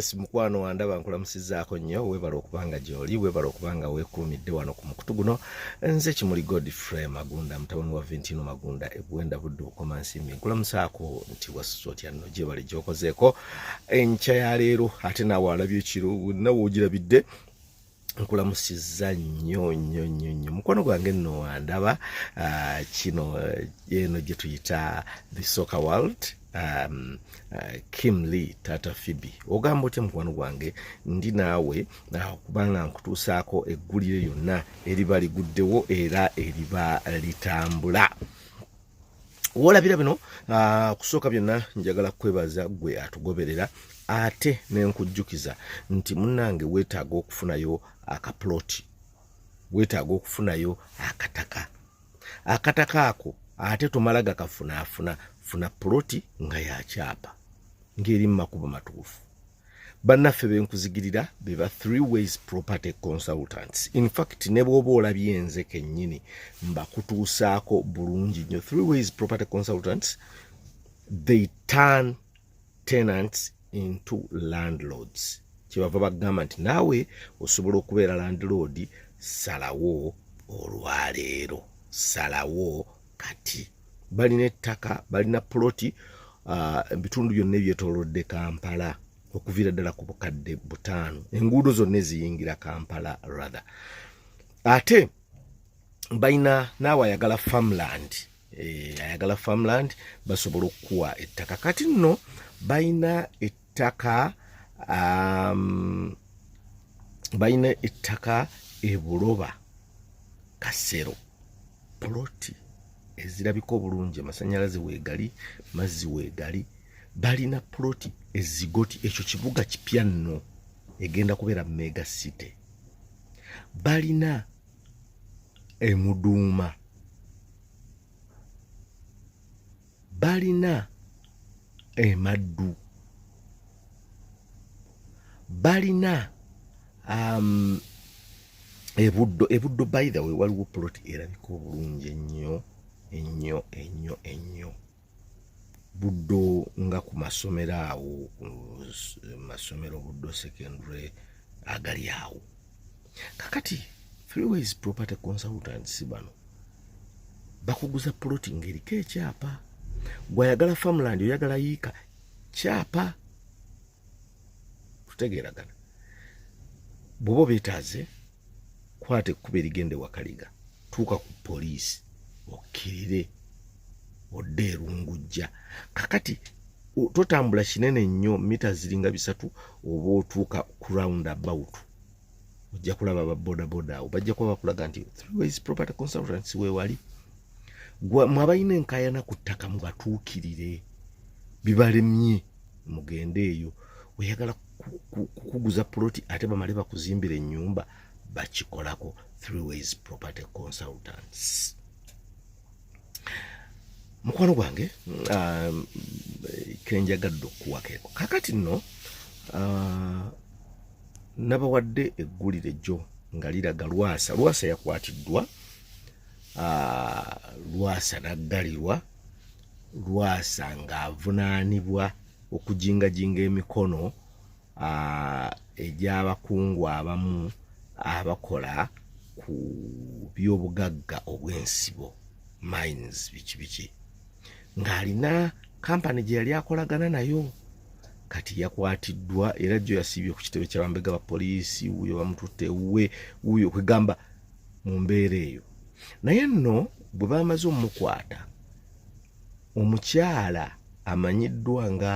yes mukwano wandaba nkulamusizaako nnyo webala okubanga gyoli webala okubanga wekuumidde wano ku mukutu guno nze kimuli godfrey magunda mutabani wa ventino magunda ebwenda budde okomansimbi nkulamusaako nti wasuza otya nno gyebale gyokozeeko enkya ya leero ate naawe alabye ekiro nawe ogirabidde nkulamusiza nnyo nnyo nnyo nnyo mukwano gwange nno wandaba ah, kino eh, eno gye tuyita the soccer world um, uh, Kim Lee Tata Phoebe ogamba otya mukwano gwange ndi naawe uh, kubanga nkutuusaako eggulire yonna eriba liguddewo era eriba litambula wolabira bino ah, kusooka byonna njagala kwebaza gwe atugoberera ate nenkujjukiza nti munange wetaaga okufunayo akaploti wetaaga okufunayo akataka akataka ako ate tomala gakafunaafuna funa ploti nga yakyapa ngeri mumakubo matuufu bannaffe benkuzigirira be ba three ways property consultants in fact ne bwoba olabye nze kennyini mbakutuusaako bulungi nnyo three ways property consultants they turn tenants into landlords kyebava bagamba nti naawe osobola okubeera landlord salawo olwaleero salawo kati balina ettaka balina puloti ah, ebitundu byonna ebyetolodde kampala okuviira ddala ku bukadde butaano enguudo zonna eziyingira kampala rather ate balina naawe ayagala farmland eh, ayagala farmland basobola okukuwa ettaka kati nno balina ttaka um, balina ettaka ebuloba kasero poloti ezirabika obulungi amasanyalaze wegali mazzi wegali balina poloti ezigoti ekyo kibuga kipya nno egenda kubeera mega city balina emuduuma balina emaddu balina um, ebuddo ebuddo by the way waliwo plot erabika obulungi ennyo ennyo ennyo ennyo buddo nga ku masomero awo masomero buddo secondary agali awo kakati freeways property consultants bano bakuguza ploti ngaeriko ekyapa gwayagala farmland oyagala yiika kyapa tutegeeragana bwoba obetaaze kwata ekkuba erigende wakaliga tuuka ku poliisi okkirire okay. odde erungujja kakati totambula kinene nnyo mita ziringa bisatu oba otuuka ku round about ojja kulaba babodaboda awo bajja kuba bakulaga nti throughways property consultants wewali mwe abalina enkayana ku ttaka mubatuukirire bibalemye mugende eyo oyagala kukuguza puloti ate bamale bakuzimbira ennyumba bakikolako throughways property consultants mukwano gwange um, kenjagadde okukuwakeeko kakati nno uh, nabawadde eggulire jjo nga liraga lwasa lwasa yakwatiddwa uh, lwasa naggalirwa lwasa ng'avunaanibwa okujingajinga emikono egy'abakungu abamu abakola ku byobugagga obw'ensibo mines biki biki ng'alina kampani gye yali akolagana nayo kati yakwatiddwa era jo yasiibye ku kitebe kyabambega ba poliisi wuyo bamututte ewuwe wuyo kwegamba mu mbeera eyo naye nno bwe bamaze omukwata omukyala amanyiddwa nga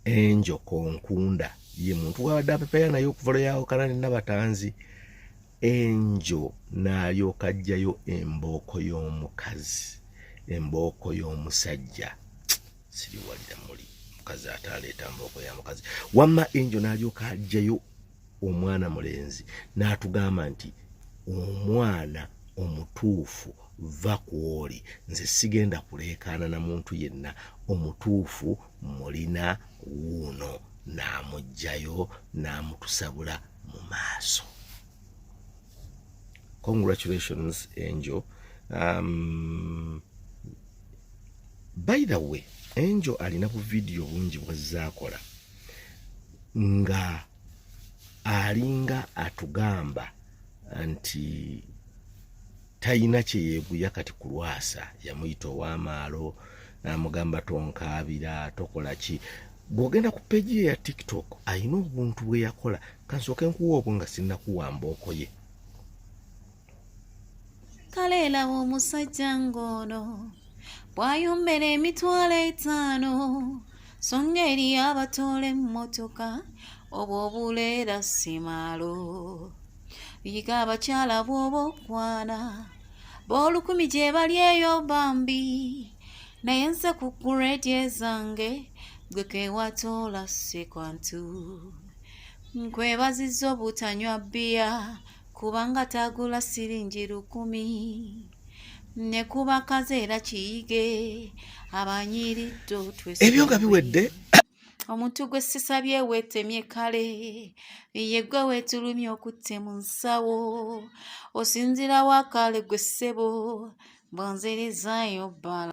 enjo konkunda ye muntu wabadde apepeya naye okuva lwe yawukana ne nabatanzi enjo n'alyoka ajjayo embooko y'omukazi embooko y'omusajja siriwalira muli mukazi ate aleeta mbooko ya mukazi wamma enjo n'alyoka ajjayo omwana mulenzi n'atugamba nti omwana omutuufu va ku oli nze sigenda kuleekaana na muntu yenna omutuufu mulina wuuno n'amugjayo n'amutusabula mu maaso congratulations angel um, by the way angel alina bu vidiyo bungi bwazzaakola nga alinga atugamba nti talina kyeyeguya kati kulwasa yamuyita owamaalo namugamba tonkaabira tokola ki bwogenda ku peji ye ya tiktok alina obuntu bweyakola kansooke nkuwa obwo nga sinnakuwamba okoye kale laba omusajja ng'ono bw'ayombera emitwalo etaano so ng'eri abatoola emmotoka obwo obuleera simaalo yiga abakyala bw'oba okwana b'olukumi gye bali eyo bambi naye nze ku guredi ezange gwe kewatoola si kwantu nkwebaziza obutanywa bbiya kubanga tagula siringi lukumi ne kuba kazeera kiyige abanyiriddo ebyo nga biwedde omuntu gwe sisabye weetemye kale ye gwe weetulumye okutte mu nsawo osinzirawo akaale gwe ssebo mbonzerezayo bbala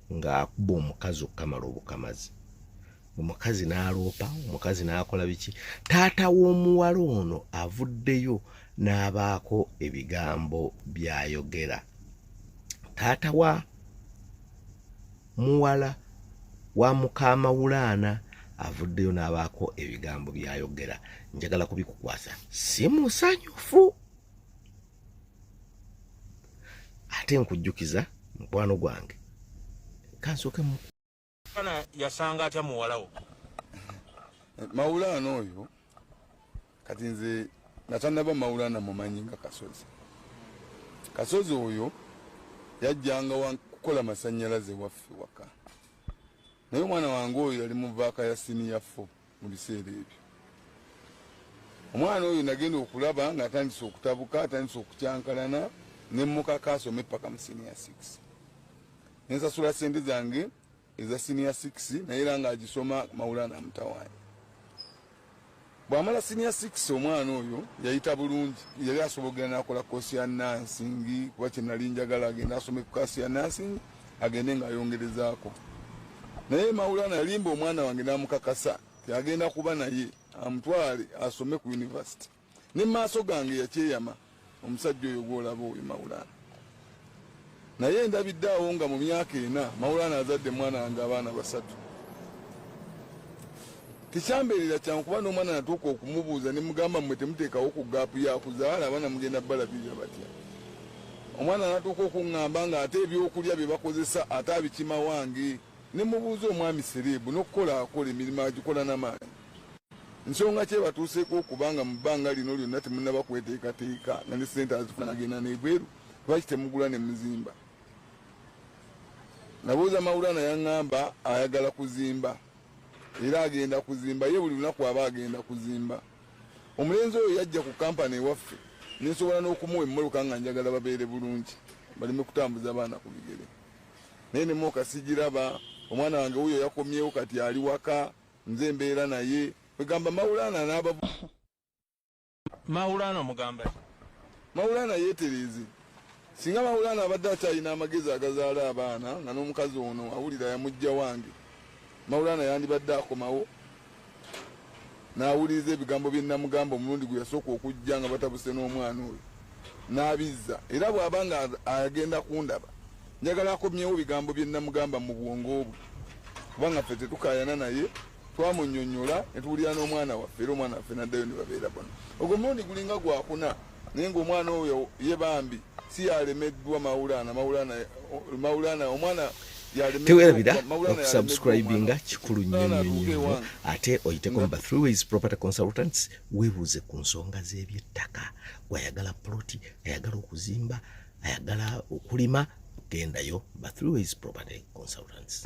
ng'akuba omukazi okukamala obukamazi omukazi n'aloopa omukazi n'akola biki taata w'omuwala ono avuddeyo n'abaako ebigambo by'ayogera taata wa muwala wa mukaamawulaana avuddeyo n'abaako ebigambo by'ayogera njagala kubikukwasa si musanyufu ate nkujjukiza mukwano gwange kansooke mu kana yasanga atya muwalawo mawulaana oyo kati nze natanaba mawulaana mumanyi nga kasozi kasozi oyo yajjanga wakukola masanyalaze waffe waka naye omwana wange oyo yali muvaaka ya siniya fo mu biseera ebyo omwana oyo nagenda okulaba nga atandise okutabuka atandise okukyankalana nemukaka asome paka mu senior six nensasula sente zange eza senior six naye era nga agisoma mawulana mutawaanyi bwamala senior six omwana oyo yayita bulungi yali asobogera nakola kosi ya nansingi kuba kyenali njagala agenda asome ku kasi ya nansingi agende nga ayongerezaako naye maulana yalimba omwana wange namukakasa yagenda kuba naye amutwale asome ku univesity ne maaso gange yakyeyama omusajja oyo gwolaba oyo maulana naye ndabidde awo nga mu myaka ena maulana azadde mwana wange abaana basatu tekyambeerera kyangu kuba n'omwana natuuka okumubuuza ne mugamba mmwe temuteekawo ku gaapu yakuzaala abaana mugenda balabirira batya Omwana natuuka okungamba nga ate ebyokulya byebakozesa ate abikima wange nemubuuza omwami sereebu nokukola akola emirimu agikola namaanyi nsonga ki ebatuuseeko okuba nga mu bbanga lino lyonna temunaba kweteekateeka nga ne sente azifuna agenda nebweru lwaki temugula ne muzimba nabuuza mawulana yaŋŋamba ayagala kuzimba era agenda kuzimba ye buli lunaku aba agenda kuzimba Omulenzi oyo yajja ku kampani ewaffe nensobola n'okumuwa emmoloka nga njagala babeere bulungi baleme kutambuza abaana ku bigere naye nemwoka sigiraba omwana wange wuyo yakomyewo kati ali waka nze embeera naye kwegamba mawulana n'aba mawulana omugamba mawulana yeetereeze singa mawulana abadde akyalina amagezi agazaala abaana nga n'omukazi ono awulira yamujja wange mawulana yandibadde akomawo n'awuliriza ebigambo bye nnamugamba omulundi gwe yasooka okujja nga batabuse n'omwana oyo n'abizza era bw'aba nga agenda kundaba njagala akomyewo bigambo bye nnamugamba mu bwongo bwe kubanga ffe tetukaayana naye twamunyonyola ne tuwulira n'omwana waffe era omwana waffe n'addayo ne babeera bona ogwo mulundi gulinga gwakuna naye ngaomwana oyo ye bambi si yalemeddwa maulana maulana maulana omwana tewerabira okusubscribinga kikulu nnyo nnyo nnyo ate oyiteko mu ba three ways property consultants webuuze ku nsonga z'ebyettaka gwayagala ploti ayagala okuzimba ayagala okulima gendayo ba three ways property consultants